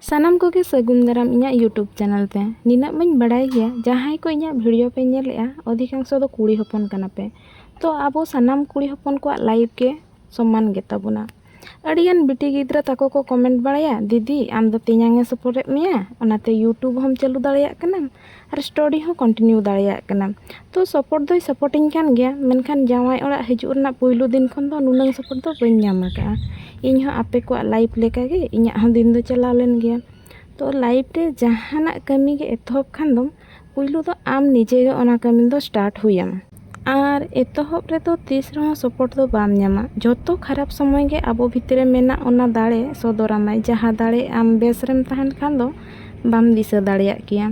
ᱥᱟᱱᱟᱢ ᱠᱚᱜᱮ ᱥᱟᱹᱜᱩᱱ ᱫᱟᱨᱟᱢ ᱤᱧᱟᱹᱜ ᱭᱩᱴᱩᱵᱽ ᱪᱮᱱᱮᱞ ᱛᱮ ᱱᱤᱱᱟᱹᱜ ᱢᱟᱹᱧ ᱵᱟᱲᱟᱭ ᱜᱮᱭᱟ ᱡᱟᱦᱟᱸᱭ ᱠᱚ ᱤᱧᱟᱹᱜ ᱵᱷᱤᱰᱤᱭᱳ ᱯᱮ ᱧᱮᱞᱮᱜᱼᱟ ᱚᱫᱷᱤᱠᱟᱝᱥᱚ ᱫᱚ ᱠᱩᱲᱤ ᱦᱚᱯᱚᱱ ᱠᱟᱱᱟ ᱯᱮ ᱛᱚ ᱟᱵᱚ ᱥᱟᱱᱟᱢ ᱠᱩᱲᱤ ᱦᱚᱯᱚᱱ ᱠᱚᱣᱟᱜ ᱞᱟᱭᱤᱯᱷ ᱜᱮ ᱥᱚᱢᱟᱱ ᱜᱮᱛᱟ ᱵᱚᱱᱟ ᱟᱹᱰᱤ ᱜᱟᱱ ᱵᱤᱴᱤ ᱜᱤᱫᱽᱨᱟᱹ ᱛᱟᱠᱚ ᱠᱚ ᱠᱚᱢᱮᱱᱴ ᱵᱟᱲᱟᱭᱟ ᱫᱤᱫᱤ ᱟᱢ ᱫᱚ ᱛᱮᱧᱟᱝ ᱮ ᱥᱚᱯᱚᱴᱮᱫ ᱢᱮᱭᱟ ᱚᱱᱟᱛᱮ ᱭᱩᱴᱩᱵᱽ ᱦᱚᱸᱢ ᱪᱟᱹᱞᱩ ᱫᱟᱲᱮᱭᱟᱜ ᱠᱟᱱᱟ ᱟᱨ ᱥᱴᱟᱰᱤ ᱦᱚᱸ ᱠᱚᱱᱴᱤᱱᱤᱭᱩ ᱫᱟᱲᱮᱭᱟᱜ ᱠᱟᱱᱟ ᱛᱚ ᱥᱟᱯᱳᱨᱴ ᱫᱚᱭ ᱥᱟᱯᱳᱨᱴ ᱤᱧ ᱠᱟᱱ ᱜᱮᱭᱟ ᱢᱮᱱᱠᱷᱟᱱ ᱡᱟᱶᱟᱭ ᱚᱲᱟᱜ ᱦᱤᱡᱩᱜ ᱨᱮᱱᱟᱜ ᱯᱳᱭᱞᱳ ᱫᱤᱱ ᱠᱷᱚᱱ ᱫᱚ ᱱᱩᱱᱟᱹᱝ ᱥᱟᱯᱳᱨᱴ ᱫᱚ ᱵᱟᱹᱧ ᱧᱟᱢ ᱠᱟᱜᱼᱟ ᱤᱧ ᱦᱚᱸ ᱟᱯᱮ ᱠᱚᱣᱟᱜ ᱞᱟᱭᱤᱯᱷ ᱞᱮᱠᱟᱜᱮ ᱤᱧᱟᱹᱜ ᱦᱚᱸ ᱫᱤᱱ ᱫᱚ ᱪᱟᱞᱟᱣ ᱞᱮᱱ ᱜᱮᱭᱟ ᱛᱚ ᱞᱟᱭᱤᱯᱷ ᱨᱮ ᱡᱟᱦᱟᱱᱟᱜ ᱠᱟᱹᱢᱤᱜᱮ ᱮᱛᱚᱦᱚᱵ ᱠᱷᱟᱱ ᱫᱚᱢ ᱯᱳᱭᱞᱳ ᱫᱚ ᱟᱢ ᱱᱤᱡᱮᱜᱮ ᱚᱱᱟ ᱠᱟᱹᱢᱤ ᱫᱚ ᱥᱴᱟᱨᱴ ᱦᱩᱭ ᱟᱢᱟ ᱟᱨ ᱮᱛᱚᱦᱚᱵ ᱨᱮᱫᱚ ᱛᱤᱥ ᱨᱮᱦᱚᱸ ᱥᱚᱯᱚᱴ ᱫᱚ ᱵᱟᱢ ᱧᱟᱢᱟ ᱡᱚᱛᱚ ᱠᱷᱟᱨᱟᱯ ᱥᱚᱢᱚᱭ ᱜᱮ ᱟᱵᱚ ᱵᱷᱤᱛᱨᱤ ᱨᱮ ᱢᱮᱱᱟᱜ ᱚᱱᱟ ᱫᱟᱲᱮ ᱥᱚᱫᱚᱨ ᱟᱢᱟᱭ ᱡᱟᱦᱟᱸ ᱫᱟᱲᱮ ᱟᱢ ᱵᱮᱥ ᱨᱮᱢ ᱛᱟᱦᱮᱱ ᱠᱷᱟᱱ ᱫᱚ ᱵᱟᱢ ᱫᱤᱥᱟᱹ ᱫᱟᱲᱮᱭᱟᱜ ᱠᱮᱭᱟ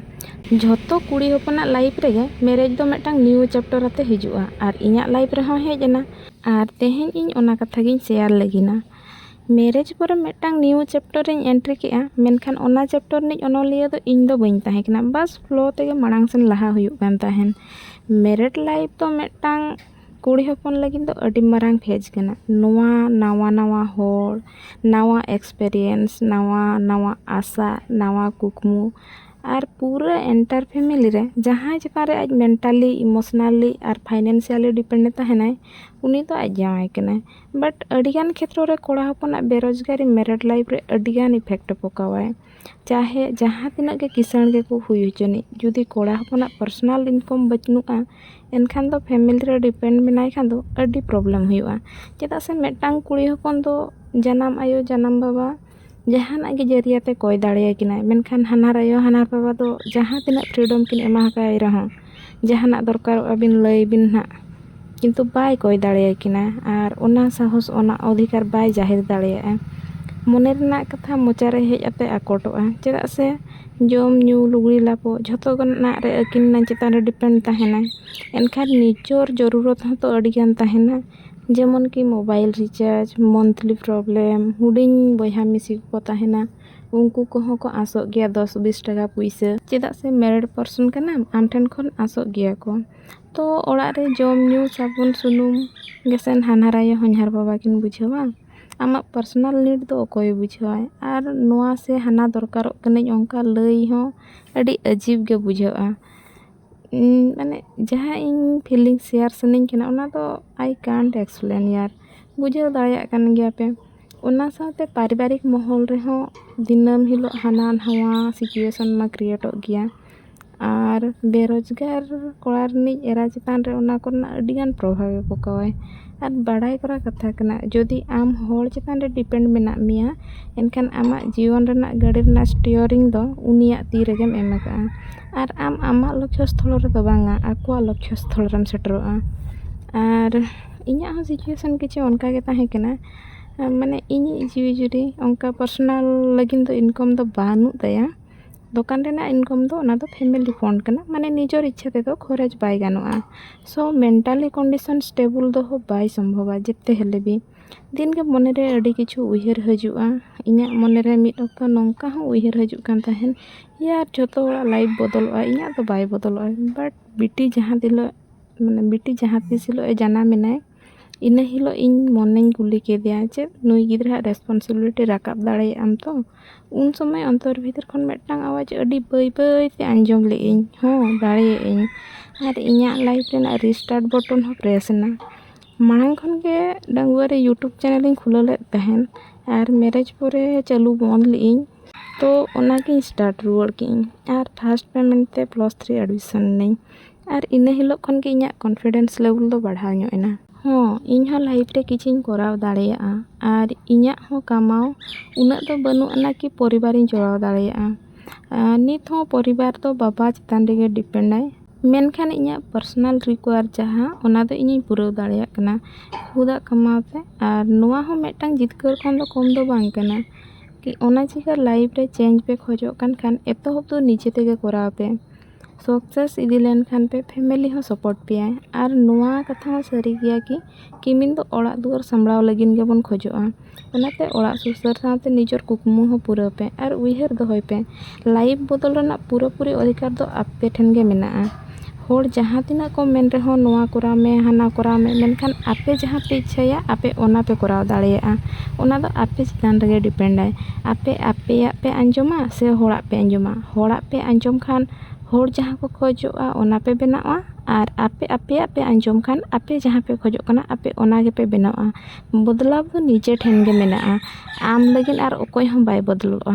ᱡᱷᱚᱛᱚ ᱠᱩᱲᱤ ᱦᱚᱯᱚᱱᱟᱜ ᱞᱟᱭᱤᱯᱷ ᱨᱮᱜᱮ ᱢᱮᱨᱮᱡᱽ ᱫᱚ ᱢᱤᱫᱴᱟᱝ ᱱᱤᱭᱩ ᱪᱮᱯᱴᱟᱨ ᱟᱛᱮ ᱦᱤᱡᱩᱜᱼᱟ ᱟᱨ ᱤᱧᱟᱹᱜ ᱞᱟᱭᱤᱯᱷ ᱨᱮᱦᱚᱸ ᱦᱮᱡ ᱮᱱᱟ ᱟᱨ ᱛᱮᱦᱮᱧ ᱤᱧ ᱚᱱᱟ ᱠᱟᱛᱷᱟ ᱜᱤᱧ ᱥᱮᱭᱟᱨ ᱞᱟᱹᱜᱤᱫᱼᱟ ᱢᱮᱨᱮᱡᱽ ᱯᱚᱨᱮ ᱢᱤᱫᱴᱟᱝ ᱱᱤᱭᱩ ᱪᱮᱯᱴᱟᱨ ᱨᱤᱧ ᱮᱱᱴᱨᱤ ᱠᱮᱫᱼᱟ ᱢᱮᱱᱠᱷᱟᱱ ᱚᱱᱟ ᱪᱮᱯᱴᱟᱨ ᱨᱤᱱᱤᱡ ᱚᱱᱚᱞᱤᱭᱟᱹ ᱫᱚ ᱤᱧ ᱫᱚ ᱵᱟᱹᱧ ᱛᱟᱦᱮᱸ ᱠᱟᱱᱟ ᱵᱟᱥ ᱯᱷᱞᱳ ᱛᱮᱜᱮ ᱢᱟᱲᱟᱝ ᱥᱮᱱ ᱞᱟᱦᱟ ᱦᱩᱭᱩᱜ ᱠᱟᱱ ᱛᱟᱦᱮᱱ ᱢᱮᱨᱮᱴ ᱞᱟᱭᱤᱯᱷ ᱫᱚ ᱢᱤᱫᱴᱟᱝ ᱠᱩᱲᱤ ᱦᱚᱯᱚᱱ ᱞᱟᱹᱜᱤᱫ ᱫᱚ ᱟᱹᱰᱤ ᱢᱟᱨᱟᱝ ᱯᱷᱮᱡᱽ ᱠᱟᱱᱟ ᱱᱚᱣᱟ ᱱᱟᱣᱟ ᱱᱟᱣᱟ ᱦᱚᱲ ᱱᱟᱣᱟ ᱮᱠᱥᱯᱮᱨᱤᱭᱮᱱᱥ ᱱᱟᱣᱟ ᱱᱟᱣᱟ ᱟᱥᱟ ᱱᱟᱣᱟ ᱠᱩᱠᱢᱩ ᱟᱨ ᱯᱩᱨᱟᱹ ᱮᱱᱴᱟᱨ ᱯᱷᱮᱢᱮᱞᱤ ᱨᱮ ᱡᱟᱦᱟᱸᱭ ᱪᱮᱛᱟᱱ ᱨᱮ ᱟᱡ ᱢᱮᱱᱴᱟᱞᱤ ᱤᱢᱳᱥᱳᱱᱟᱞᱤ ᱟᱨ ᱯᱷᱟᱭᱱᱮᱱᱥᱤᱭᱟᱞᱤ ᱰᱤᱯᱮᱱᱰ ᱮ ᱛᱟᱦᱮᱱᱟᱭ ᱩᱱᱤ ᱫᱚ ᱟᱡ ᱡᱟᱶᱟᱭ ᱠᱟᱱᱟᱭ ᱵᱟᱴ ᱟᱹᱰᱤᱜᱟᱱ ᱠᱷᱮᱛᱨᱚ ᱨᱮ ᱠᱚᱲᱟ ᱦᱚᱯᱚᱱᱟᱜ ᱵᱮᱨᱚᱡᱽᱜᱟᱨᱤ ᱢᱮᱨᱮᱴ ᱞᱟᱭᱤᱯᱷ ᱨᱮ ᱟᱹᱰᱤᱜᱟᱱ ᱤᱯᱷᱮᱠᱴ ᱮ ᱯᱚᱠᱟᱣᱟᱭ ᱪᱟᱦᱮ ᱡᱟᱦᱟᱸ ᱛᱤᱱᱟᱹᱜ ᱜᱮ ᱠᱤᱥᱟᱹᱬ ᱜᱮᱠᱚ ᱦᱩᱭ ᱦᱚᱪᱚᱱᱤᱡ ᱡᱩᱫᱤ ᱠᱚᱲᱟ ᱦᱚᱯᱚᱱᱟᱜ ᱯᱟᱨᱥᱚᱱᱟᱞ ᱤᱱᱠᱟᱢ ᱵᱟᱹᱱᱩᱜᱼᱟ ᱮᱱᱠᱷᱟᱱ ᱫᱚ ᱯᱷᱮᱢᱮᱞᱤ ᱨᱮ ᱰᱤᱯᱮᱱᱰ ᱢᱮᱱᱟᱭ ᱠᱷᱟᱱ ᱫᱚ ᱟᱹᱰᱤ ᱯᱨᱚᱵᱞᱮᱢ ᱦᱩᱭᱩᱜᱼᱟ ᱪᱮᱫᱟᱜ ᱥᱮ ᱢᱤᱫᱴᱟᱝ ᱠᱩᱲᱤ ᱦᱚᱯᱚᱱ ᱫᱚ ᱡᱟᱱᱟᱢ ᱟᱭᱳ ᱡᱟᱱᱟᱢ ᱵᱟᱵᱟ ᱡᱟᱦᱟᱱᱟᱜ ᱜᱮ ᱡᱟᱹᱨᱤᱭᱟ ᱛᱮ ᱠᱚᱭ ᱫᱟᱲᱮᱭᱟᱭ ᱠᱟᱱᱟᱭ ᱢᱮᱱᱠᱷᱟᱱ ᱦᱟᱱᱦᱟᱨ ᱟᱭᱳ ᱦᱟᱱᱦᱟᱨ ᱵᱟᱵᱟ ᱫᱚ ᱡᱟᱦᱟᱸ ᱛᱤᱱᱟᱹᱜ ᱯᱷᱨᱤᱰᱚᱢ ᱠᱤᱱ ᱮᱢᱟ ᱟᱠᱟᱭ ᱨᱮᱦᱚᱸ ᱡᱟᱦᱟᱱᱟᱜ ᱫᱚᱨᱠᱟᱨᱚᱜᱼᱟ ᱵᱤᱱ ᱞᱟᱹᱭ ᱵᱤᱱ ᱦᱟᱸᱜ ᱠᱤᱱᱛᱩ ᱵᱟᱭ ᱠᱚᱭ ᱫᱟᱲᱮᱭᱟᱭ ᱠᱟᱱᱟ ᱟᱨ ᱚᱱᱟ ᱥᱟᱦᱚᱥ ᱚᱱᱟ ᱚᱫᱷᱤᱠᱟᱨ ᱵᱟᱭ ᱡᱟᱦᱮᱨ ᱫᱟᱲᱮᱭᱟᱜᱼᱟ ᱢᱚᱱᱮ ᱨᱮᱱᱟᱜ ᱠᱟᱛᱷᱟ ᱢᱚᱪᱟ ᱨᱮ ᱦᱮᱡ ᱠᱟᱛᱮ ᱟᱠᱚᱴᱚᱜᱼᱟ ᱪᱮᱫᱟᱜ ᱥᱮ ᱡᱚᱢ ᱧᱩ ᱞᱩᱜᱽᱲᱤ ᱞᱟᱯᱚ ᱡᱷᱚᱛᱚ ᱨᱮᱱᱟᱜ ᱨᱮ ᱟᱹᱠᱤᱱ ᱪᱮᱛᱟᱱ ᱨᱮ ᱰᱤᱯᱮᱱᱰ ᱛᱟᱦᱮᱱᱟᱭ ᱮᱱᱠᱷᱟᱱ ᱱᱤᱡᱚᱨ ᱡᱚᱨᱩᱨᱚᱛ ᱦᱚᱸᱛᱚ ᱟᱹᱰᱤ ᱜᱟᱱ ᱛᱟᱦᱮᱱᱟ ᱡᱮᱢᱚᱱ ᱠᱤ ᱢᱳᱵᱟᱭᱤᱞ ᱨᱤᱪᱟᱨᱡᱽ ᱢᱚᱱᱛᱷᱞᱤ ᱯᱨᱚᱵᱞᱮᱢ ᱦᱩᱰᱤᱧ ᱵᱚᱭᱦᱟ ᱢᱤᱥᱤ ᱠᱚᱠᱚ ᱛᱟᱦᱮᱱᱟ ᱩᱱᱠᱩ ᱠᱚᱦᱚᱸ ᱠᱚ ᱟᱥᱚᱜ ᱜᱮᱭᱟ ᱫᱚᱥ ᱵᱤᱥ ᱴᱟᱠᱟ ᱯᱩᱭᱥᱟᱹ ᱪᱮᱫᱟᱜ ᱥᱮ ᱢᱮᱨᱤᱰ ᱯᱟᱨᱥᱚᱱ ᱠᱟᱱᱟᱢ ᱟᱢ ᱴᱷᱮᱱ ᱠᱷᱚᱱ ᱟᱥᱚᱜ ᱜᱮᱭᱟ ᱠᱚ ᱛᱚ ᱚᱲᱟᱜ ᱨᱮ ᱡᱚᱢ ᱧᱩ ᱥᱟᱵᱚᱱ ᱥᱩᱱᱩᱢ ᱜᱮᱥᱮ ᱦᱟᱱᱦᱟᱨ ᱟᱭᱳ ᱦᱚᱧᱦᱟᱨ ᱵᱟᱵᱟ ᱠᱤᱱ ᱵᱩᱡᱷᱟᱹᱣᱟ ᱟᱢᱟᱜ ᱯᱟᱨᱥᱚᱱᱟᱞ ᱱᱤᱰ ᱫᱚ ᱚᱠᱚᱭᱮ ᱵᱩᱡᱷᱟᱹᱣᱟᱭ ᱟᱨ ᱱᱚᱣᱟ ᱥᱮ ᱦᱟᱱᱟ ᱫᱚᱨᱠᱟᱨᱚᱜ ᱠᱟᱹᱱᱟᱹᱧ ᱚᱱᱠᱟ ᱞᱟᱹᱭ ᱦᱚᱸ ᱟᱹᱰᱤ ᱟᱹᱡᱤᱵᱽ ᱜᱮ ᱵᱩᱡᱷᱟᱹᱜᱼᱟ ᱢᱟᱱᱮ ᱡᱟᱦᱟᱸ ᱤᱧ ᱯᱷᱤᱞᱤᱝ ᱥᱮᱭᱟᱨ ᱥᱟᱱᱟᱧ ᱠᱟᱱᱟ ᱚᱱᱟ ᱫᱚ ᱟᱭ ᱠᱟᱱᱴ ᱮᱠᱥᱯᱞᱮᱱ ᱦᱤᱭᱟᱨ ᱵᱩᱡᱷᱟᱹᱣ ᱫᱟᱲᱮᱭᱟᱜ ᱠᱟᱱ ᱜᱮᱭᱟ ᱯᱮ ᱚᱱᱟ ᱥᱟᱶᱛᱮ ᱯᱟᱨᱤᱵᱟᱨᱤᱠ ᱢᱚᱦᱚᱞ ᱨᱮᱦᱚᱸ ᱫᱤᱱᱟᱹᱢ ᱦᱤᱞᱳᱜ ᱦᱟᱱᱟ ᱱᱚᱣᱟ ᱥᱤᱪᱩᱭᱮᱥᱚᱱ ᱢᱟ ᱠᱨᱤᱭᱮᱴᱚᱜ ᱜᱮᱭᱟ ᱟᱨ ᱵᱮᱨᱳᱡᱽᱜᱟᱨ ᱠᱚᱲᱟ ᱨᱤᱱᱤᱡ ᱮᱨᱟ ᱪᱮᱛᱟᱱ ᱨᱮ ᱚᱱᱟ ᱠᱚᱨᱮᱱᱟᱜ ᱟᱹᱰᱤᱜᱟᱱ ᱯᱨᱚᱵᱷᱟᱵᱽ ᱮ ᱯᱚᱠᱟᱣᱟᱭ ᱟᱨ ᱵᱟᱲᱟᱭ ᱠᱚᱨᱟ ᱠᱟᱛᱷᱟ ᱠᱟᱱᱟ ᱡᱩᱫᱤ ᱟᱢ ᱦᱚᱲ ᱪᱮᱛᱟᱱ ᱨᱮ ᱰᱤᱯᱮᱱᱰ ᱢᱮᱱᱟᱜ ᱢᱮᱭᱟ ᱮᱱᱠᱷᱟᱱ ᱟᱢᱟᱜ ᱡᱤᱭᱚᱱ ᱨᱮᱱᱟᱜ ᱜᱟᱹᱰᱤ ᱨᱮᱱᱟᱜ ᱥᱴᱤᱭᱟᱨᱤᱝ ᱫᱚ ᱩᱱᱤᱭᱟᱜ ᱛᱤ ᱨᱮᱜᱮᱢ ᱮᱢ ᱠᱟᱜᱼᱟ ᱟᱨ ᱟᱢ ᱟᱢᱟᱜ ᱞᱚᱠᱠᱷᱚ ᱥᱛᱷᱚᱞ ᱨᱮᱫᱚ ᱵᱟᱝᱟ ᱟᱠᱚᱣᱟᱜ ᱞᱚᱠᱠᱷᱚ ᱥᱛᱷᱚᱞ ᱨᱮᱢ ᱥᱮᱴᱮᱨᱚᱜᱼᱟ ᱟᱨ ᱤᱧᱟᱹᱜ ᱦᱚᱸ ᱥᱤᱪᱩᱭᱮᱥᱚᱱ ᱠᱤᱪᱷᱩ ᱚᱱᱠᱟ ᱜᱮ ᱛᱟᱦᱮᱸ ᱠᱟᱱᱟ ᱢᱟᱱᱮ ᱤᱧᱤᱡ ᱡᱤᱣᱤ ᱡᱩᱨᱤ ᱚᱱᱠᱟ ᱯᱟᱨᱥᱳᱱᱟᱞ ᱞᱟᱹᱜᱤᱫ ᱫᱚ ᱤᱱᱠᱟᱢ ᱫᱚ ᱵᱟᱹᱱᱩᱜ ᱛᱟᱭᱟ ᱫᱚᱠᱟᱱ ᱨᱮᱱᱟᱜ ᱤᱱᱠᱚᱢ ᱫᱚ ᱚᱱᱟ ᱫᱚ ᱯᱷᱮᱢᱮᱞᱤ ᱯᱷᱚᱱᱰ ᱠᱟᱱᱟ ᱢᱟᱱᱮ ᱱᱤᱡᱮᱨ ᱤᱪᱪᱷᱟᱹ ᱛᱮᱫᱚ ᱠᱷᱚᱨᱚᱪ ᱵᱟᱭ ᱜᱟᱱᱚᱜᱼᱟ ᱥᱳ ᱢᱮᱱᱴᱟᱞᱤ ᱠᱚᱱᱰᱤᱥᱚᱱ ᱥᱴᱮᱵᱮᱞ ᱫᱚᱦᱚ ᱵᱟᱭ ᱥᱚᱢᱵᱷᱚᱵᱟ ᱡᱮᱛᱮ ᱦᱮᱞᱮ ᱜᱮ ᱫᱤᱱ ᱜᱮ ᱢᱚᱱᱮ ᱨᱮ ᱟᱹᱰᱤ ᱠᱤᱪᱷᱩ ᱩᱭᱦᱟᱹᱨ ᱦᱤᱡᱩᱜᱼᱟ ᱤᱧᱟᱹᱜ ᱢᱚᱱᱮ ᱨᱮ ᱢᱤᱫ ᱚᱠᱛᱚ ᱱᱚᱝᱠᱟ ᱦᱚᱸ ᱩᱭᱦᱟᱹᱨ ᱦᱤᱡᱩᱜ ᱠᱟᱱ ᱛᱟᱦᱮᱱ ᱤᱭᱟᱨ ᱡᱚᱛᱚ ᱦᱚᱲᱟᱜ ᱞᱟᱭᱤᱯᱷ ᱵᱚᱫᱚᱞᱚᱜᱼᱟ ᱤᱧᱟᱹᱜ ᱫᱚ ᱵᱟᱭ ᱵᱚᱫᱚᱞᱚᱜᱼᱟ ᱵᱟᱴ ᱵᱤᱴᱤ ᱡᱟᱦᱟᱸ ᱛᱤᱱᱟᱹᱜ ᱢᱟᱱᱮ ᱵᱤᱴᱤ ᱡᱟᱦᱟᱸ ᱛᱤᱥ ᱦᱤᱞᱳᱜ ᱮ ᱡᱟᱱᱟᱢ ᱮᱱᱟᱭ ᱤᱱᱟᱹ ᱦᱤᱞᱳᱜ ᱤᱧ ᱢᱚᱱᱮᱧ ᱠᱩᱞᱤ ᱠᱮᱫᱮᱭᱟ ᱡᱮ ᱱᱩᱭ ᱜᱤᱫᱽᱨᱟᱹ ᱟᱜ ᱨᱮᱥᱯᱚᱱᱥᱤᱵᱤᱞᱤᱴᱤ ᱨᱟᱠᱟᱵ ᱫᱟᱲᱮᱭᱟᱜ ᱟᱢ ᱛᱚ ᱩᱱ ᱥᱚᱢᱚᱭ ᱚᱱᱛᱚᱨ ᱵᱷᱤᱛᱤᱨ ᱠᱷᱚᱱ ᱢᱤᱫᱴᱟᱝ ᱟᱣᱟᱡᱽ ᱟᱹᱰᱤ ᱵᱟᱹᱭ ᱵᱟᱹᱭ ᱛᱮ ᱟᱸᱡᱚᱢ ᱞᱮᱜ ᱟᱹᱧ ᱦᱚᱸ ᱫᱟᱲᱮᱭᱟᱜ ᱟᱹᱧ ᱟᱨ ᱤᱧᱟᱹᱜ ᱞᱟᱭᱤᱯᱷ ᱨᱮᱱᱟᱜ ᱨᱤᱥᱴᱟᱨᱴ ᱵᱚᱴᱚᱱ ᱦᱚᱸ ᱯᱨᱮᱥ ᱮᱱᱟ ᱢᱟᱲᱟᱝ ᱠᱷᱚᱱ ᱜᱮ ᱰᱟᱺᱜᱩᱣᱟᱹ ᱨᱮ ᱤᱭᱩᱴᱩᱵᱽ ᱪᱮᱱᱮᱞ ᱤᱧ ᱠᱷᱩᱞᱟᱹᱣ ᱞᱮᱜ ᱛᱟᱦᱮᱱ ᱟᱨ ᱢᱮᱨᱮᱡᱽ ᱯᱚᱨᱮ ᱪᱟᱹᱞᱩ ᱵᱚᱱᱫᱽ ᱞᱮᱜ ᱟᱹᱧ ᱛᱚ ᱚᱱᱟᱜᱮ ᱥᱴᱟᱨᱴ ᱨᱩᱣᱟᱹᱲ ᱠᱮᱜ ᱟᱹᱧ ᱟᱨ ᱯᱷᱟᱥᱴ ᱯᱮᱢᱮᱱᱴ ᱛᱮ ᱯᱞᱟᱥ ᱛᱷᱨᱤ ᱮᱰᱢᱤᱥᱚᱱ ᱱᱟᱹᱧ ᱟᱨ ᱤᱱᱟᱹ ᱦᱤᱞᱳᱜ ᱠᱷᱚᱱ ᱜᱮ ᱤᱧᱟᱹᱜ ᱠᱚᱱᱯᱷᱤᱰᱮᱱᱥ ᱞᱮᱵᱮᱞ ᱫᱚ ᱵᱟᱲᱦᱟᱣ ᱧᱚᱜ ᱮᱱᱟ ᱦᱚᱸ ᱤᱧ ᱦᱚᱸ ᱞᱟᱭᱤᱯᱷ ᱨᱮ ᱠᱤᱪᱷᱩᱧ ᱠᱚᱨᱟᱣ ᱫᱟᱲᱮᱭᱟᱜᱼᱟ ᱟᱨ ᱤᱧᱟᱹᱜ ᱦᱚᱸ ᱠᱟᱢᱟᱣ ᱩᱱᱟᱹᱜ ᱫᱚ ᱵᱟᱹᱱᱩᱜ ᱟᱱᱟ ᱠᱤ ᱯᱚᱨᱤᱵᱟᱨᱤᱧ ᱪᱟᱞᱟᱣ ᱫᱟᱲᱮᱭᱟᱜᱼᱟ ᱟᱨ ᱱᱤᱛ ᱦᱚᱸ ᱯᱚᱨᱤᱵᱟᱨ ᱫᱚ ᱵᱟᱵᱟ ᱪᱮᱛᱟᱱ ᱨᱮᱜᱮ ᱰᱤᱯᱮᱱᱰ ᱟᱭ ᱢᱮᱱᱠᱷᱟᱱ ᱤᱧᱟᱹᱜ ᱯᱟᱨᱥᱚᱱᱟᱞ ᱨᱤᱠᱩᱭᱟᱨ ᱡᱟᱦᱟᱸ ᱚᱱᱟ ᱫᱚ ᱤᱧᱤᱧ ᱯᱩᱨᱟᱹᱣ ᱫᱟᱲᱮᱭᱟᱜ ᱠᱟᱱᱟ ᱠᱷᱩᱫ ᱟᱜ ᱠᱟᱢᱟᱣ ᱛᱮ ᱟᱨ ᱱᱚᱣᱟ ᱦᱚᱸ ᱢᱤᱫᱴᱟᱝ ᱡᱤᱛᱠᱟᱹᱨ ᱠᱷᱚᱱ ᱫᱚ ᱠᱚᱢ ᱫᱚ ᱵᱟᱝ ᱠᱟᱱᱟ ᱠᱤ ᱚᱱᱟ ᱪᱤᱠᱟᱹ ᱞᱟᱭᱤᱯᱷ ᱨᱮ ᱪᱮᱧᱡᱽ ᱯᱮ ᱠᱷᱚᱡᱚᱜ ᱠᱟᱱ ᱠᱷᱟᱱ ᱮᱛᱚᱦᱚᱵ ᱫᱚ ᱱᱤᱡᱮ ᱛᱮᱜᱮ ᱠᱚᱨᱟᱣ ᱯᱮ ᱥᱟᱠᱥᱮᱥ ᱤᱫᱤ ᱞᱮᱱᱠᱷᱟᱱ ᱯᱮ ᱯᱷᱮᱢᱮᱞᱤ ᱦᱚᱸ ᱥᱟᱯᱳᱨᱴ ᱯᱮᱭᱟᱭ ᱟᱨ ᱱᱚᱣᱟ ᱠᱟᱛᱷᱟ ᱦᱚᱸ ᱥᱟᱹᱨᱤ ᱜᱮᱭᱟ ᱠᱤ ᱠᱤᱢᱤᱱ ᱫᱚ ᱚᱲᱟᱜ ᱫᱩᱣᱟᱹᱨ ᱥᱟᱢᱵᱽᱲᱟᱣ ᱞᱟᱹᱜᱤᱫ ᱜᱮᱵᱚᱱ ᱠᱷᱚᱡᱚᱜᱼᱟ ᱚᱱᱟᱛᱮ ᱚᱲᱟᱜ ᱥᱩᱥᱟᱹᱨ ᱥᱟᱶᱛᱮ ᱱᱤᱡᱮᱨ ᱠᱩᱠᱢᱩ ᱦᱚᱸ ᱯᱩᱨᱟᱹᱣ ᱯᱮ ᱟᱨ ᱩᱭᱦᱟᱹᱨ ᱫᱚᱦᱚᱭ ᱯᱮ ᱞᱟᱭᱤᱯᱷ ᱵᱚᱫᱚᱞ ᱨᱮᱱᱟᱜ ᱯᱩᱨᱟᱹ ᱯᱩᱨᱤ ᱚᱫᱷᱤᱠᱟᱨ ᱫᱚ ᱟᱯᱮ ᱴᱷᱮᱱ ᱜᱮ ᱢᱮᱱᱟᱜᱼᱟ ᱦᱚᱲ ᱡᱟᱦᱟᱸ ᱛᱤᱱᱟᱹᱜ ᱠᱚ ᱢᱮᱱ ᱨᱮᱦᱚᱸ ᱱᱚᱣᱟ ᱠᱚᱨᱟᱣ ᱢᱮ ᱦᱟᱱᱟ ᱠᱚᱨᱟᱣ ᱢᱮ ᱢᱮᱱᱠᱷᱟᱱ ᱟᱯᱮ ᱡᱟᱦᱟᱸ ᱯᱮ ᱤᱪᱪᱷᱟᱹᱭᱟ ᱟᱯᱮ ᱚᱱᱟ ᱯᱮ ᱠᱚᱨᱟᱣ ᱫᱟᱲᱮᱭᱟᱜᱼᱟ ᱚᱱᱟ ᱫᱚ ᱟᱯᱮ ᱪᱮᱛᱟᱱ ᱨᱮᱜᱮ ᱰᱤᱯᱮᱱᱰᱟᱭ ᱟᱯᱮ ᱟᱯᱮᱭᱟᱜ ᱯᱮ ᱟᱸᱡᱚᱢᱟ ᱥᱮ ᱦᱚᱲᱟᱜ ᱯᱮ ᱟᱸᱡᱚᱢᱟ ᱦᱚᱲᱟᱜ ᱯᱮ ᱟᱸᱡᱚᱢ ᱠᱷᱟᱱ ᱦᱚᱲ ᱡᱟᱦᱟᱸ ᱠᱚ ᱠᱷᱚᱡᱚᱜᱼᱟ ᱚᱱᱟ ᱯᱮ ᱵᱮᱱᱟᱣᱟ ᱟᱨ ᱟᱯᱮ ᱟᱯᱮᱭᱟᱜ ᱯᱮ ᱟᱸᱡᱚᱢ ᱠᱷᱟᱱ ᱟᱯᱮ ᱡᱟᱦᱟᱸ ᱯᱮ ᱠᱷᱚᱡᱚᱜ ᱠᱟᱱᱟ ᱟᱯᱮ ᱚᱱᱟ ᱜᱮᱯᱮ ᱵᱮᱱᱟᱣᱟ ᱵᱚᱫᱞᱟᱣ ᱫᱚ ᱱᱤᱡᱮ ᱴᱷᱮᱱ ᱜᱮ ᱢᱮᱱᱟᱜᱼᱟ ᱟᱢ ᱞᱟᱹᱜᱤᱫ ᱟᱨ ᱚᱠᱚᱭ ᱦᱚᱸ ᱵᱟᱭ ᱵᱚᱫᱚᱞᱚᱜᱼᱟ